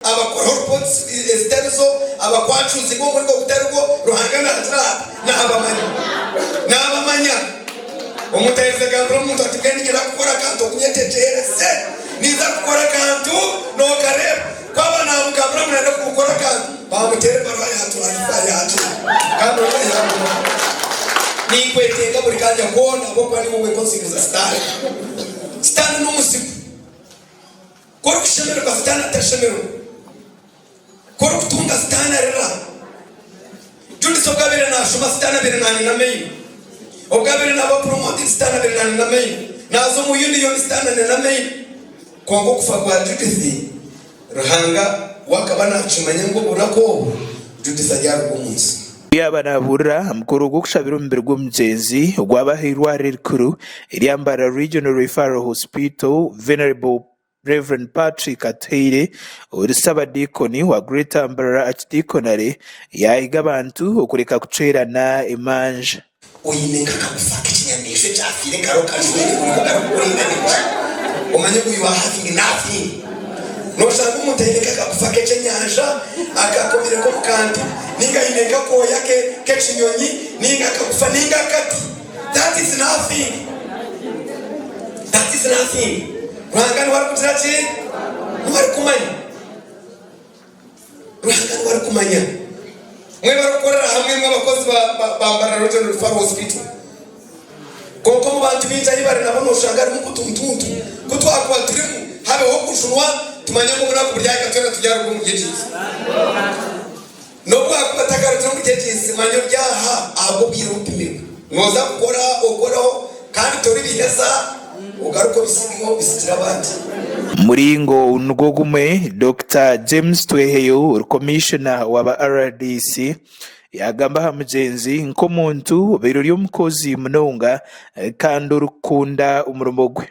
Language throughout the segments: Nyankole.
Abakora horpots ezitari zo, abakwacuuzi b'omurimo gutari gwo, Ruhanga nagira ati, Naabamanya. Naabamanya. Omuntu airize agambira omuntu ati, Mbwenu niinyenda kukora akantu oku nyetegyereze. Niiza kukora akantu, nookareeba. Ku aba naamugambira ngu naayenda kukora akantu, baamuteera ebaruha yaatwarisa yaagenda. Kandi oriya yaaguma. Ninkwetenga buri kanya koona ahabw'okuba niiwe orikwekonsingiriza Sitaane. Sitaane n'omuzigu. Ku orikushemererwa Sitaane atashemerwa, ku orikutunga Sitaane arira. Judith obu abaire naashoma Sitaane abaire naaniina amaino. Obu abaire naaba promoted Sitaane abaire naaniina amaino. Naaza omu Union Sitaane aniina amaino. Kwonka okufa kwa Judith, Ruhanga we akaba naakimanya ngu obunaku obwo Judith aryaruga omu nsi. Obu yaaba naabuurira aha mukoro gw'okushabira omubiri gw'omugyenzi ogwaba aha irwariro erikuru erya Mbarara Regional Referral Hospital, Venerable Rev. Patrick Atuhaire ori Ssabadiikoni wa Greater Mbarara Archdiconary yaahiga abantu okureka kucwerana emanja. Oine nk'akagufa k'ekinyamaishwa ekyafiire kare okakajweka kwonka ogaruka kuringana gye. Omanya ogu you are having nothing. Nooshanga omuntu aine nk'akagufa k'ekyenyanja akakomire nk'omu kantu nainga aine nk'akooya k'ekinyonyi nainga akagufa nainga akati. That is nothing. That is nothing. Ruhanga niwe arikugira ki? Niwe arikumanya. Ruhanga niwe arikumanya. Mwe barikukorera hamwe, mwe abakozi ba ba Mbarara Regional Referral Hospital. Kwonka omu bantu baingi ahi bari nabo noshanga harimu kutuntuntu. Ku twakuba turimu, habeho okujunwa, tumanye ngu obunaku buri ahika twena turi aharuguru omuri egi nsi. N'obu akuba tagarukire omuri egi nsi, manya ori aha ahabw'obwire obu opimirwe. Nooza kukora okoreho kandi toribiheza ogaruke obisige obisigire abandi. Muringo nigwo gumwe, Dokita James Tweheyo, Komishona wa ba rdc, yaagamba aha mugyenzi nk'omuntu obaire ori omukozi munonga kandi orikukunda omurimo gwe.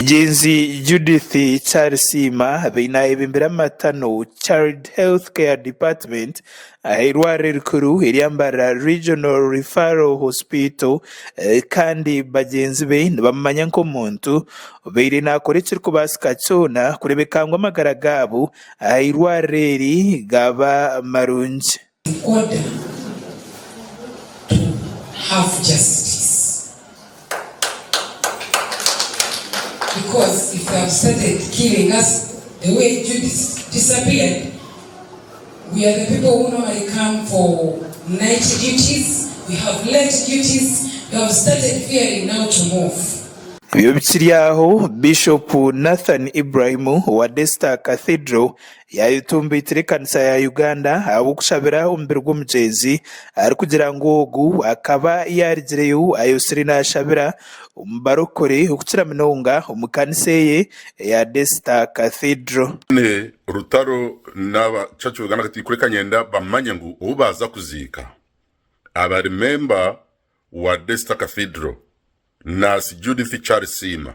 Mugyenzi Judith Kyarisiima abaire naayebimbira amatano, Child Health Care Department, aha eirwariro rikuru erya Mbarara Regional Referral Hospital kandi bagyenzi be nibamumanya nk'omuntu obaire naakora ekirikubaasika kyona kureebeka ngu amagara gaabo aha eirwariro eri gaaba marungi. Tukwata Bikiri aho, Bishopu Nathan Ibrahim owa Daystar Cathedral Yaayetumbaitira ekanisa ya Uganda ahabw'okushabira omubiri gw'omugyenzi arikugira ngu ogu akaba yaarigireyo ayotsire naashabira omu barokore okukira munonga omu kanisa eye eya Desita Cathedral. Nyine Rutaro n'aba Church of Uganda Cathedral kureka nyenda bamanye ngu obu baaza kuziika abari memba wa Desita Cathedral, Nurse Judith Charles Siima,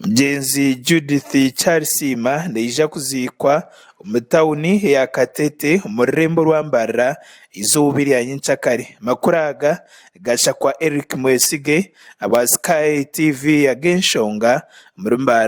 Mugyenzi Judith Charisiima naija kuziikwa omu tauni ya Katete omu rurembo rwa Mbarara eizooba erya nyenkya kare. Amakuru aga gashakwa Eric Mwesige ahabwa Sky TV ag'enshonga omuri Mbarara.